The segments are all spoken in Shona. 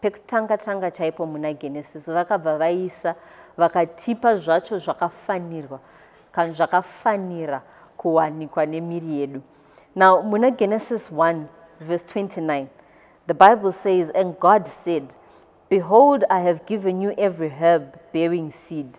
Pekutanga tanga chaipo muna Genesis vakabva vaisa vakatipa zvacho zvakafanirwa kana zvakafanira kuwanikwa nemiri yedu. Now muna Genesis 1 verse 29 the Bible says and God said behold I have given you every herb bearing seed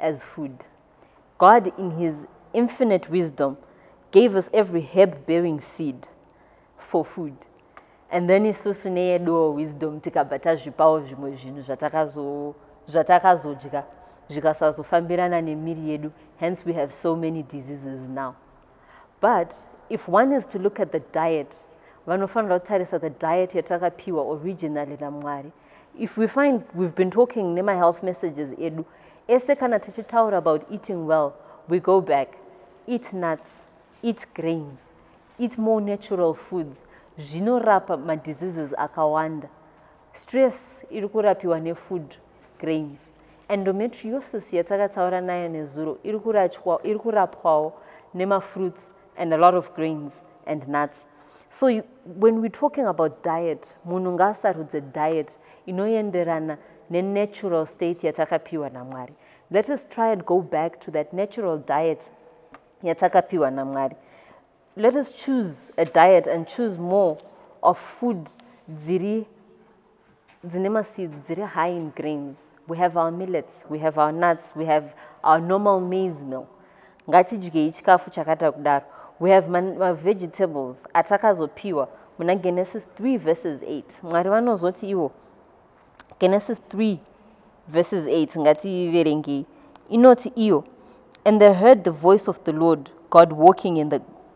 as food. God in his infinite wisdom gave us every herb bearing seed for food and then isusu neyeduwo wisdom tikabva tazvipawo zvimwe zvinhu zvatakazodya zvikasazofambirana nemiri yedu hence we have so many diseases now but if one is to look at the diet vanofanira kutarisa the diet yatakapiwa originally namwari if we find we've been talking nemahealth messages edu ese kana tichitaura about eating well we go back eat nuts eat grains eat more natural foods zvinorapa madiseases akawanda stress iri kurapiwa nefood grains endometriosis yatakataura nayo nezuro iri kurapwawo nemafruits and a lot of grains and nuts so you, when we're talking about diet munhu ngaasarudze diet inoenderana nenatural state yatakapiwa namwari let us try and go back to that natural diet yatakapiwa namwari let us choose a diet and choose more of food dziri dzine maseeds dziri high in grains we have our millets we have our nuts we have our normal maize mill ngatidyei chikafu chakata kudaro we have mavegetables atakazopiwa muna genesis 3 verses 8 mwari vanozoti ivo genesis 3 verses 8 ngativerengei inoti iyo and they heard the voice of the lord god walking in the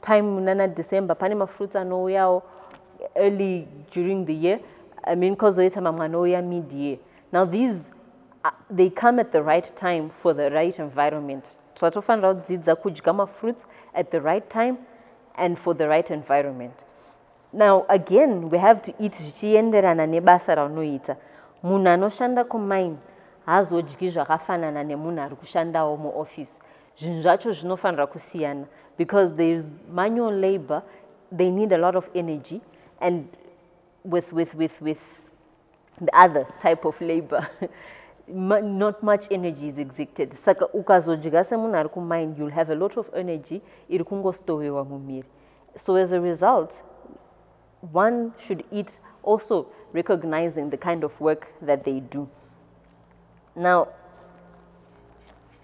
time nana december pane mafruits anouyawo early during the year i mean kozoita mamwe anouya mid year now these uh, they come at the right time for the right environment zvatofanira kudzidza kudya mafruits at the right time and for the right environment now again we have to eat zvichienderana nebasa raunoita munhu anoshanda kumine haazodyi zvakafanana nemunhu ari kushandawo muoffice zvinhu zvacho zvinofanira kusiyana because there is manual labor they need a lot of energy and with, with, with, with the other type of labor not much energy is exected saka ukazodya semunhu ari kumine you'll have a lot of energy iri kungostovewa mumiri so as a result one should eat also recognizing the kind of work that they do now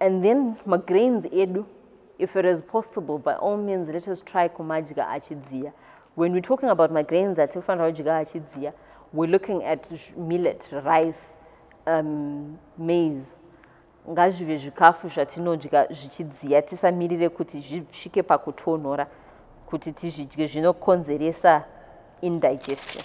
and then magrains edu if it is possible by all means let us try kumadya achidziya when we're talking about magrains atinofanira kudya achidziya we're looking at millet rice um, maize ngazvive zvikafu zvatinodya zvichidziya tisamirire kuti zvisvike pakutonhora kuti tizvidye zvinokonzeresa indigestion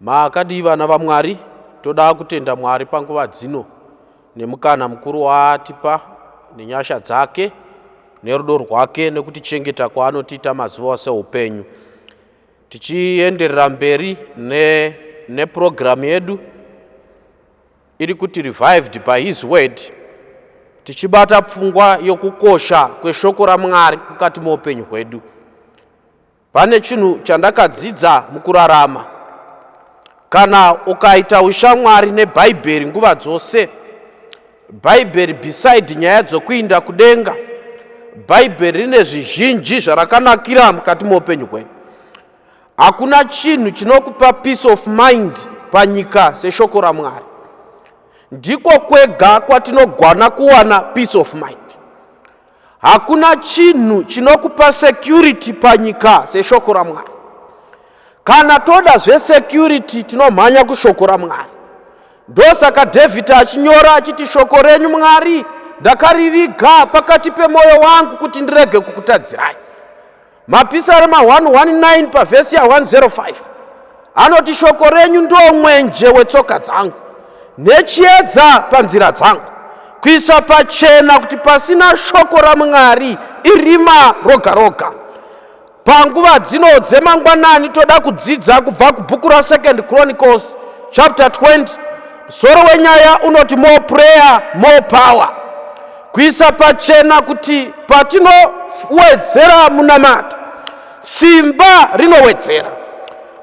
Makadii vana vaMwari? Toda kutenda Mwari panguva dzino nemukana mukuru waatipa nenyasha dzake nerudo rwake nekutichengeta kwaanotiita mazuva ose upenyu. Tichienderera mberi ne, nepurogiramu yedu iri kuti revived by his word tichibata pfungwa yokukosha kweshoko ramwari mukati meupenyu hwedu Pane chinhu chandakadzidza mukurarama. Kana ukaita ushamwari neBhaibheri nguva dzose, Bhaibheri beside nyaya dzokuinda kudenga, Bhaibheri rine zvizhinji zvarakanakira mukati meupenyu hwedu. Hakuna chinhu chinokupa peace of mind panyika seshoko raMwari. Ndiko kwega kwatinogwana kuwana peace of mind. Hakuna chinhu chinokupa security panyika seshoko raMwari. Kana toda zvesecurity tinomhanya kushoko raMwari. Ndosaka David achinyora achiti shoko renyu Mwari ndakariviga pakati pemwoyo wangu kuti ndirege kukutadzirai. Mapisarema 119 pavhesi ya 105 anoti shoko renyu ndo mwenje wetsoka dzangu nechiedza panzira dzangu kuisa pachena kuti pasina shoko ramwari irima roga roga panguva dzino dzemangwanani toda kudzidza kubva kubhuku rasecond chronicles chapter 20 musoro wenyaya unoti more prayer more power Kuisa pachena kuti patinowedzera munamato, simba rinowedzera.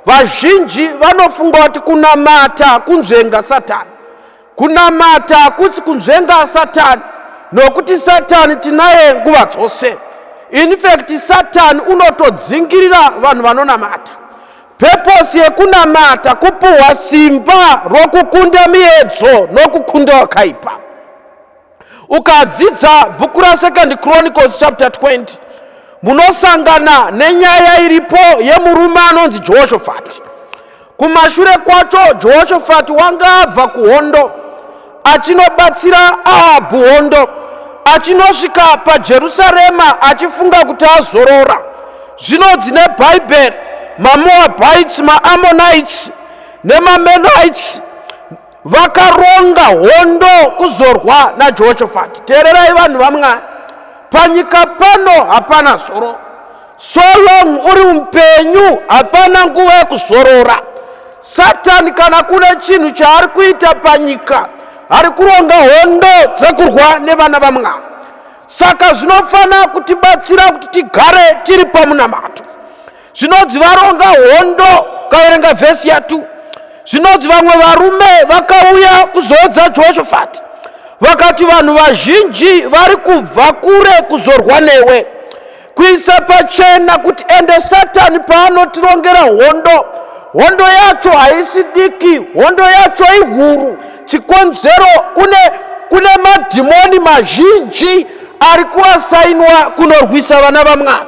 Vazhinji vanofunga kuti kunamata kunzvenga Satani. Kunamata hakusi kunzvenga Satani, nokuti Satani tinaye nguva dzose. In fact, Satani unotodzingirira vanhu vanonamata. Purpose yekunamata kupuhwa simba rokukunda miedzo nokukunda wakaipa. ukadzidza bhuku rasecond chronicles chapter 20 munosangana nenyaya iripo yemurume anonzi jehoshafati kumashure kwacho jehoshafati wanga abva kuhondo achinobatsira ahabhu hondo achinosvika pajerusarema achifunga kuti azorora zvinonzi nebhaibheri mamoabites maamonites nemamenites vakaronga hondo kuzorwa najehoshafati teererai vanhu vamwari panyika pano hapana zororo so long uri upenyu hapana nguva yekuzorora satani kana kune chinhu chaari kuita panyika ari kuronga hondo dzekurwa nevana vamwari saka zvinofanira kutibatsira kuti tigare tiri pamunamato zvinonzi varonga hondo ukaverenga vhesi ya 2 zvinonzi vamwe varume vakauya kuzoodza jehoshafati vakati vanhu vazhinji vari kubva kure kuzorwa newe kuisa pachena kuti ende satani paanotirongera hondo hondo yacho haisi diki hondo yacho ihuru chikonzero kune kune madhimoni mazhinji ari kuasainwa kunorwisa vana vamwari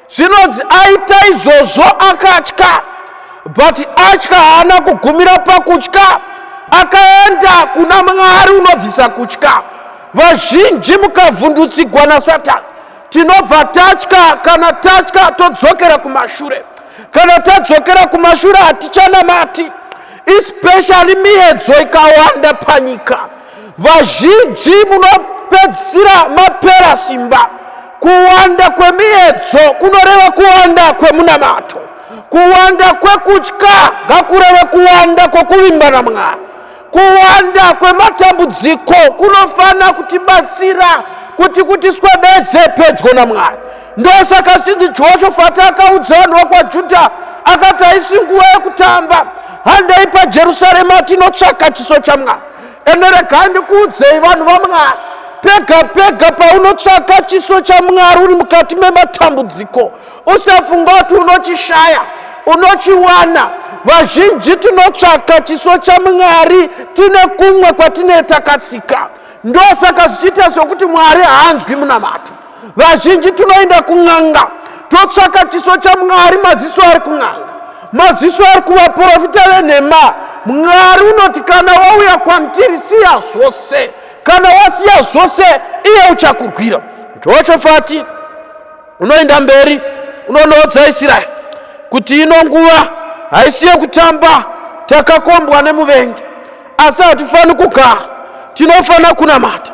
Zvinonzi aita izvozvo akatya but atya haana kugumira pakutya akaenda kuna mwari unobvisa kutya vazhinji mukavhundutsigwa nasatani tinobva tatya kana tatya todzokera kumashure kana tadzokera kumashure hatichanamati especially miyedzo ikawanda panyika Vazhinji munopedzisira mapera simba. Kuwanda kwemiyedzo kunoreva kuwanda kwemunamato. Kuwanda kwekutya ngakureve kuwanda kwokuvimba naMwari. Kuwanda kwematambudziko kunofanira kutibatsira kuti kutiswededze pedyo naMwari. Ndosaka chinzi Jehoshafati akaudza vanhu vokwaJudha akati haisi nguva yekutamba, handei paJerusarema tinotsvaka chiso chaMwari. ende regai ndikuudzei vanhu vamwari pega pega paunotsvaka chiso chamwari uri mukati mematambudziko usafunga kuti unochishaya unochiwana vazhinji tinotsvaka chiso chamwari tine kumwe kwatinee takatsika ndosaka zvichiita sokuti mwari haanzwi munamato vazhinji tinoenda kun'anga totsvaka chiso chamwari maziso ari kun'anga maziso ari kuvaprofita venhema mwari unoti kana wauya kwamtiri siya zvose kana wasiya zvose iye uchakurwira joshofati unoenda mberi unonoodza israeri kuti ino nguva haisi yekutamba takakombwa nemuvengi asi hatifaniri kugara tinofanira kunamata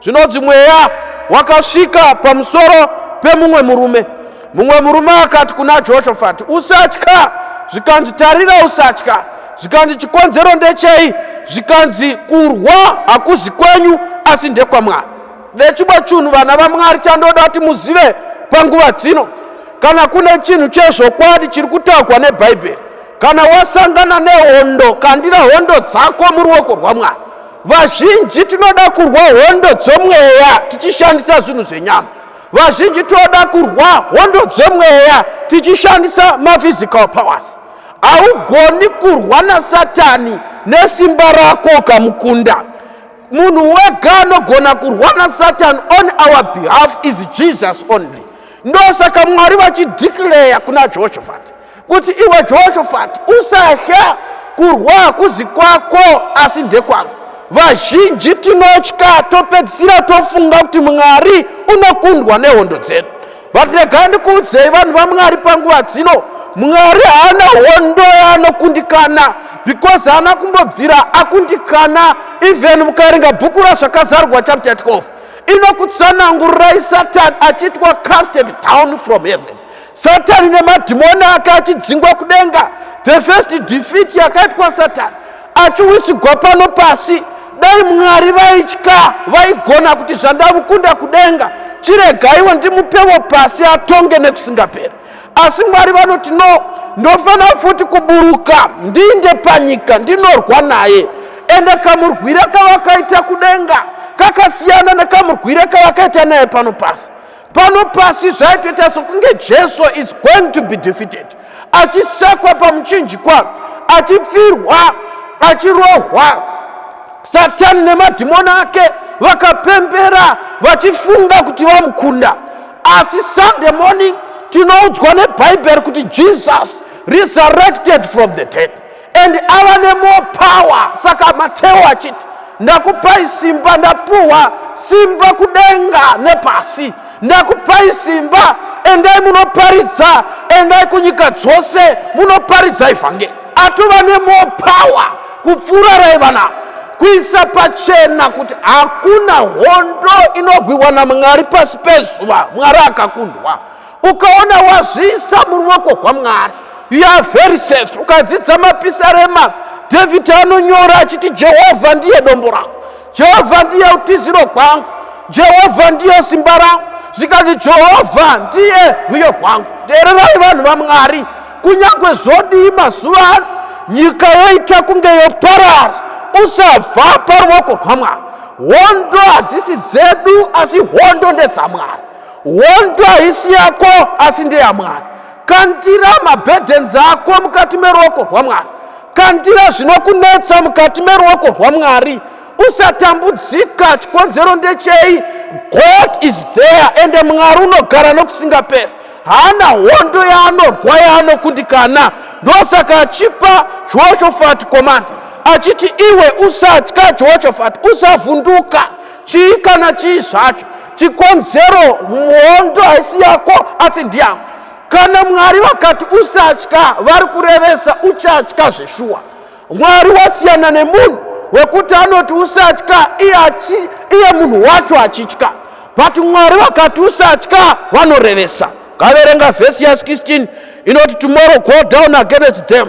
Zvinonzi mweya wakasvika pamusoro pemumwe murume. Mumwe murume akati kuna Joshafati, usatya. Zvikanzi, tarira, usatya. Zvikanzi, chikonzero ndechei? Zvikanzi, kurwa hakuzi kwenyu, asi ndekwaMwari. Nechimwe chinhu vana vaMwari chandoda kuti muzive panguva dzino, kana kune chinhu chezvokwadi chiri kutaurwa nebhaibheri kana wasangana nehondo kandira hondo dzako muruoko rwamwari vazhinji tinoda kurwa hondo dzomweya tichishandisa zvinhu zvenyama vazhinji tinoda kurwa hondo dzemweya tichishandisa maphysical powers haugoni kurwa nasatani nesimba rako ukamukunda munhu wega anogona kurwa nasatani on our behalf is jesus only ndosaka mwari vachideclare kuna jehoshafati kuti iwe jehoshafati usatya kurwa hakuzi kwako asi ndekwangu vazhinji tinotya topedzisira tofunga kuti mwari unokundwa nehondo dzedu but regai ndikuudzei vanhu vamwari panguva dzino mwari haana hondo yaanokundikana because haana kumbobvira akundikana even mukaringa bhuku razvakazarwa chapter 12 inokutsanangurirai satani achitwa casted down from heaven satani nemadhimoni ake achidzingwa kudenga the first defeat yakaitwa satani achiwisigwa pano pasi dai mwari vaitya vaigona kuti zvandamukunda kudenga chiregaiwo ndimupewo pasi atonge nekusingaperi asi mwari vanoti no ndofanira futi kuburuka ndiinde panyika ndinorwa naye ende kamurwira kavakaita kudenga kakasiyana nekamurwira kavakaita naye pano pasi pano pasi zvaitoita sokunge jesu is going to be defeated achisekwa pamuchinjikwa achipfirwa achirohwa satani nemadhimoni ake vakapembera vachifunga kuti vamukunda asi sunday morning tinoudzwa nebhaibheri kuti jesus resurrected from the dead and ava nemore power saka mateo achiti ndakupai simba ndapuhwa simba kudenga nepasi ndakupai simba endai munoparidza endai kunyika dzose munoparidza ivhangeri atova nemore power kupfuura raiva navo kuisa pachena kuti hakuna hondo inogwiwa namwari pasi pezuva mwari akakundwa ukaona wazviisa muruoko rwamwari you are very safe ukadzidza mapisarema david anonyora achiti jehovha ndiye dombo rangu jehovha ndiye utiziro rwangu jehovha ndiye simba rangu zvikanzi jehovha ndiye rwiyo rwangu teererai vanhu vamwari kunyange zvodii mazuva ano nyika yoita kunge yoparara usabva paruoko rwamwari hondo hadzisi dzedu asi hondo ndedzamwari hondo haisi yako asi ndeyamwari kandira mabhedhenzi ako mukati meruoko rwamwari kandira zvinokunetsa mukati meruoko rwamwari usatambudzika chikonzero ndechei god is there ende mwari unogara nokusingaperi haana hondo yaanorwa yaanokundikana ndosaka achipa jehoshafati komanda achiti iwe usatya jehoshafati usavhunduka chii kana chii zvacho chikonzero mhondo haisi yako asi ndiyako kana mwari vakati usatya vari kurevesa uchatya zveshuwa mwari wasiyana nemunhu wekuti anoti usatya iye munhu wacho achitya but mwari vakati usatya vanorevesa ngaverenga vhesi ya 16 inoti tomorrow go down against them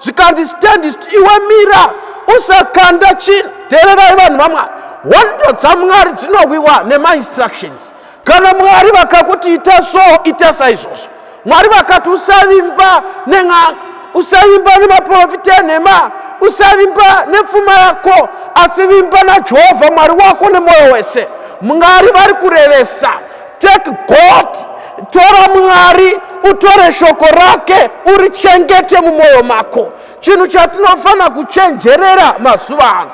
zvikanzi standist iwe mira usakanda chin teererai vanhu vamwari hondo dzamwari dzinowiwa nemainstructions kana mwari vakakuti ita so ita saizvozvo mwari vakati usavimba nen'anga usavimba nemaprofita enhema usavimba nepfuma yako asi vimba najehovha mwari wako nemwoyo wese mwari vari kurevesa Take God, tora Mwari, utore shoko rake, urichengete mumwoyo mako. Chinhu chatinofanira kuchenjerera mazuva ano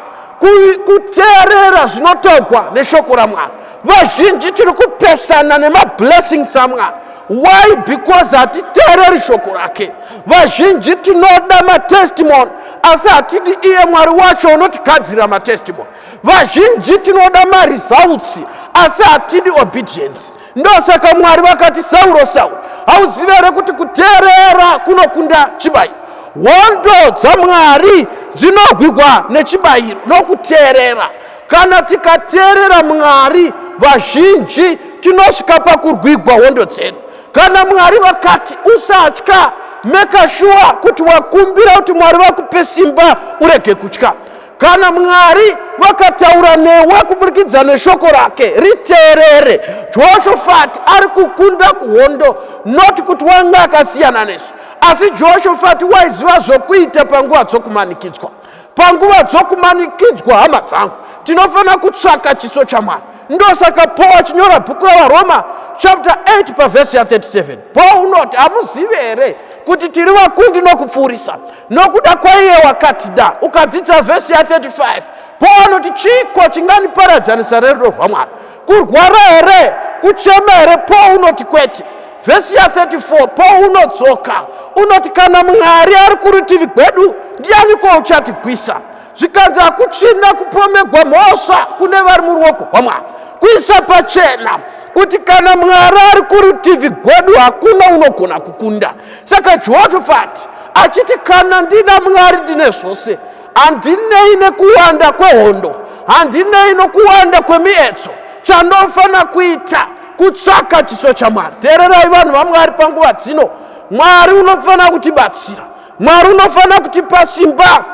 kuteerera zvinotaurwa neshoko ramwari vazhinji tiri kupesana nemablessings amwari why because hatiteereri shoko rake vazhinji tinoda matestimony asi hatidi iye mwari wacho unotigadzirira matestimony Vazhinji tinoda maresults asi hatidi obedience. Ndosaka Mwari vakati Sauro, Sauro, hauzive here kuti kuteerera kunokunda chibayiro? Hondo dzaMwari dzinogwigwa nechibayiro nokuteerera. Kana tikateerera Mwari, vazhinji tinosvika pakurwigwa hondo dzedu. Kana Mwari vakati usatya, make sure kuti wakumbira kuti Mwari vakupe simba urege kutya. Kana Mwari vakataura newe kuburikidza neshoko rake, riteerere. Joshofati ari kukunda kuhondo, not kuti wanga akasiyana nesu, asi Joshofati waiziva zvokuita panguva dzokumanikidzwa. Panguva dzokumanikidzwa, hama dzangu, tinofanira kutsvaka chiso chaMwari. Ndosaka Paul achinyora bhuku raVaroma chapter 8 pavhesi ya 37 Paul unoti, hamuzivi here kuti tiri vakundi nokupfuurisa nokuda kwaiye wakatida ukadzidza vhesi ya 35 paul anoti chiiko chinganiparadzanisa rerudo rwamwari kurwara here kuchema here paul unoti kwete vhesi ya 34 paul unodzoka unoti kana mwari ari kurutivi gwedu ndiyaniko uchatigwisa zvikanzi hakuchina kupomegwa mhosva kune vari muruoko rwamwari kuisa pachena kuti kana mwari ari kurutivi gwedu hakuna unogona kukunda Saka Jehofati achiti, Kana ndina Mwari ndine zvose, handinei nekuwanda kwehondo, handinei nokuwanda kwemietso, chandofanira kuita kutsvaka chiso chaMwari. Teererai vanhu vaMwari panguva dzino, Mwari unofanira kutibatsira, Mwari unofanira kutipa simba,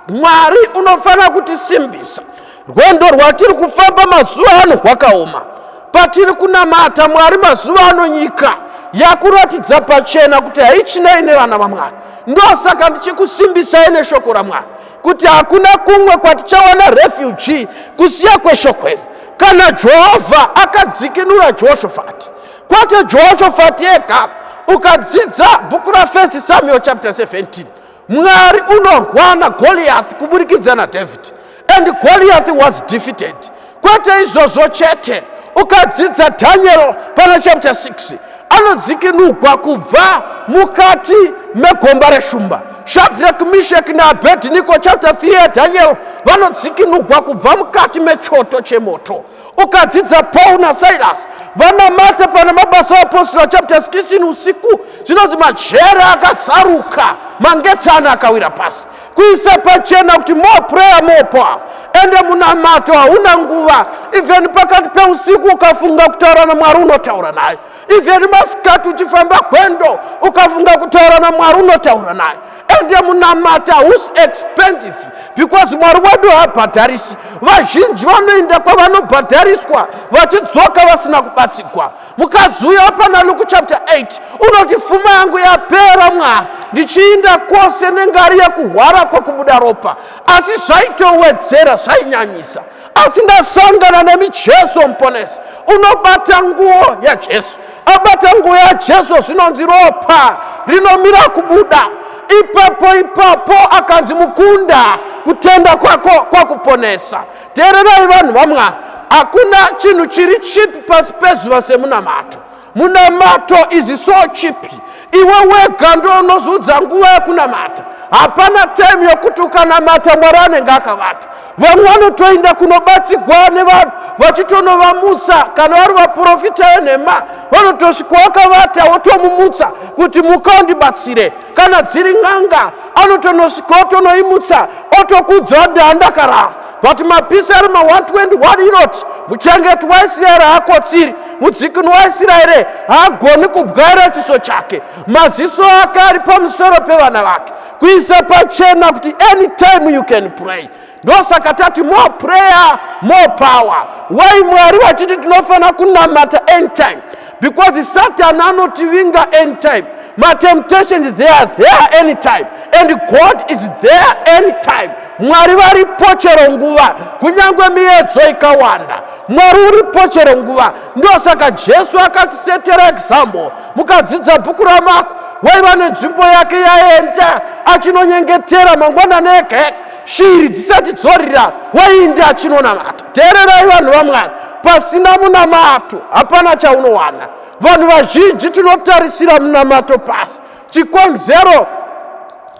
Mwari unofanira kutisimbisa. Rwendo rwatiri kufamba mazuva ano rwakaoma. Patiri kunamata Mwari mazuva ano nyika yakuratidza pachena kuti haichinei nevana vaMwari. Ndosaka ndichikusimbisai neshoko raMwari kuti hakuna kumwe kwatichawana refugee kusiya kweshoko iri. Kana Jehovha akadzikinura Jehoshafati, kwete Jehoshafati ega. Ukadzidza bhuku raFirst Samuel chapter 17 Mwari unorwana Goliath kuburikidza naDavid. and goliath was defeated kwete izvozvo chete ukadzidza daniel pana chapter 6 anodzikinugwa kubva mukati megomba reshumba shadrak mishek naabedniko chapter 3 yadaniel vanodzikinugwa kubva mukati mechoto chemoto ukadzidza paul nasilas vanamata pana mabasa oapostora chapter 16 usiku zvinonzi majere akasaruka mangetani akawira pasi kuisa pachena kuti more prayer more power ende munamato hauna nguva even pakati peusiku ukafunga kutaura namwari unotaura naye even masikati uchifamba gwendo ukafunga kutaura namwari unotaura naye ende munamata whos expensive because mwari wedu haabhadharisi vazhinji vanoenda kwavanobhadhariswa vachidzoka vasina kubatsigwa mukadzi uyo apana luku chapter 8 unoti fuma yangu yapera mwari ndichiinda kwose nengari yekuhwara kwekubuda ropa asi zvaitowedzera zvainyanyisa asi ndasangana nemi jesu muponesi unobata nguo yajesu abata nguo yajesu zvinonzi ropa rinomira kubuda ipapo ipapo akanzi mukunda kutenda kwako kwakuponesa teererai vanhu vamwari hakuna chinhu chiri chipi pasi pezuva semunamato Munamato izi so chipi iwe wega ndoonozoudza nguva yekunamata hapana time yokuti ukanamata mwari anenge akavata vamwe vanotoinda kunobatsigwa nevanhu vachitonovamutsa kana vari vaprofita venhema vanotosvika wakavata wotomumutsa kuti muka undibatsire kana dziri n'anga anotonosvika otonoimutsa otokudza ati andakarara Vati mapisi ari ma 121 inoti muchengeti waIsraeri haakotsiri, mudzikinwi waIsraeri haagoni kubwaira chiso chake, maziso ake ari pamusoro pevana vake, kuisa pachena kuti anytime you can pray ndosaka tati more prayer more power why mwari vachiti tinofanira kunamata anytime because satan anotivinga anytime matemptations they are there anytime and god is there anytime mwari varipo chero nguva kunyange miyedzo ikawanda mwari uripo chero nguva ndosaka jesu akatisetera example mukadzidza bhuku ramako waiva nenzvimbo yake yaenda achinonyengetera mangwanani ege shiri dzisati dzorira waindi achinonamata teererai vanhu vamwari pasina munamato hapana chaunowana vanhu vazhinji tinotarisira munamato pasi chikonzero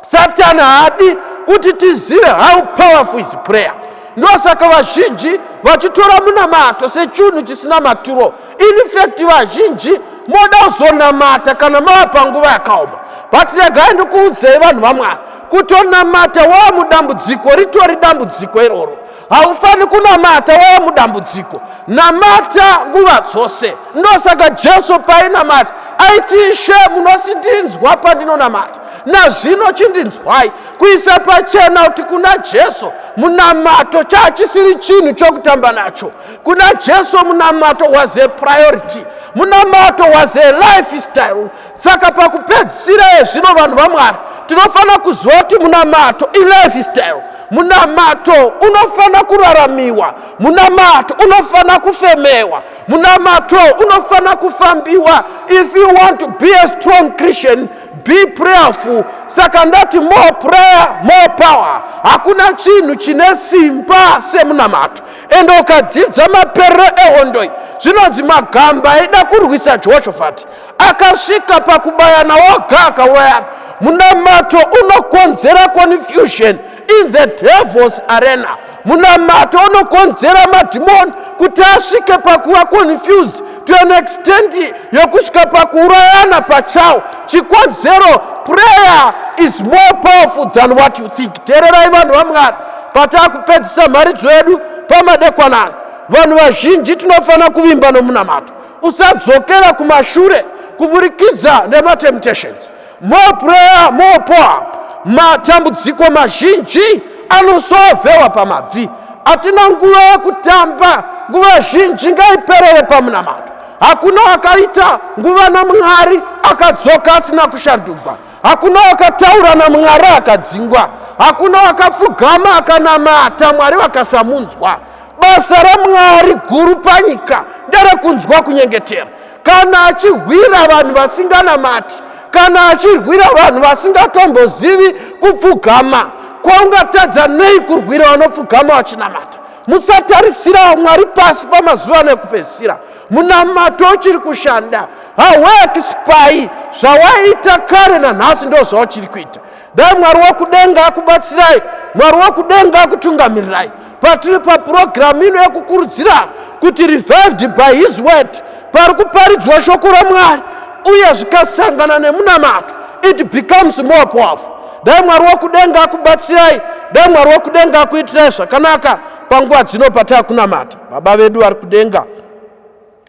satani haadi kuti tizive how powerful is prayer ndosaka vazhinji vachitora munamato sechinhu chisina maturo infact vazhinji moda kuzonamata kana mava panguva yakaoma but regai ndikuudzei vanhu vamwari Kutonamata wava mudambudziko ritori dambudziko iroro. Haufaniri kunamata wava mudambudziko. Namata nguva dzose. Ndosaka Jesu paainamata aiti, Ishe, munosindinzwa pandinonamata. Nazvino chindinzwai. Kuisa pachena kuti kuna Jesu munamato chaachisiri chinhu chokutamba nacho. Kuna Jesu munamato was a priority. Munamato was a lifestyle. saka pakupedzisira ezvino vanhu vamwari tinofanira kuziva kuti munamato ilifestyle munamato unofanira kuraramiwa munamato unofanira kufemewa munamato unofanira kufambiwa if you want to be a strong christian be prayerful saka ndati more prayer more power hakuna chinhu chine simba semunamato ende ukadzidza maperero ehondoi zvinonzi magamba aida kurwisa jehoshafati akasvika pakubayana woga akaurayana munamato unokonzera confusion in the devils arena munamato unokonzera madhimoni kuti asvike pakuva confused to an extent yokusvika pakuurayana pachawo chikonzero prayer is more powerful than what you think teererai vanhu vamwari pataakupedzisa mharidzo yedu pamadekwanana vanhu vazhinji tinofanira kuvimba nomunamato usadzokera kumashure kuburikidza nematemptations more prayer more power matambudziko mazhinji anosovewa pamabvi hatina nguva yekutamba nguva zhinji ngaiperere pamunamato hakuna akaita nguva namwari akadzoka asina kushandugwa hakuna wakataura namwari akadzingwa hakuna wakapfugama akanamata mwari vakasamunzwa basa ramwari guru panyika nderekunzwa kunyengetera kana achihwira vanhu vasinganamati kana achirwira vanhu vasingatombozivi kupfugama kwaungatadza nei kurwira vanopfugama vachinamata musatarisira mwari pasi pamazuva ano ekupedzisira munamato uchiri kushanda hauexpai zvawaita kare nanhasi ndo zvauchiri kuita dai mwari wekudenga akubatsirai mwari wekudenga akutungamirirai patiri papurogiramu ino yekukurudzira kuti revived by his word pari kuparidzwa shoko ramwari uye zvikasangana nemunamato it becomes more powerful dai mwari wokudenga akubatsirai dai mwari wokudenga akuitirai zvakanaka panguva dzino pataa kunamata baba vedu vari kudenga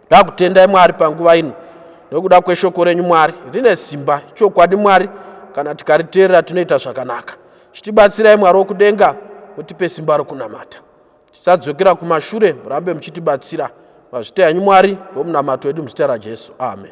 ndakutendai mwari panguva ino nokuda kweshoko renyu mwari rine simba chokwadi mwari kana tikariteerera tinoita zvakanaka chitibatsirai mwari wokudenga mutipe simba rokunamata tisadzokera kumashure murambe muchitibatsira mazvita yanyu mwari ndomunamato wedu muzita rajesu amen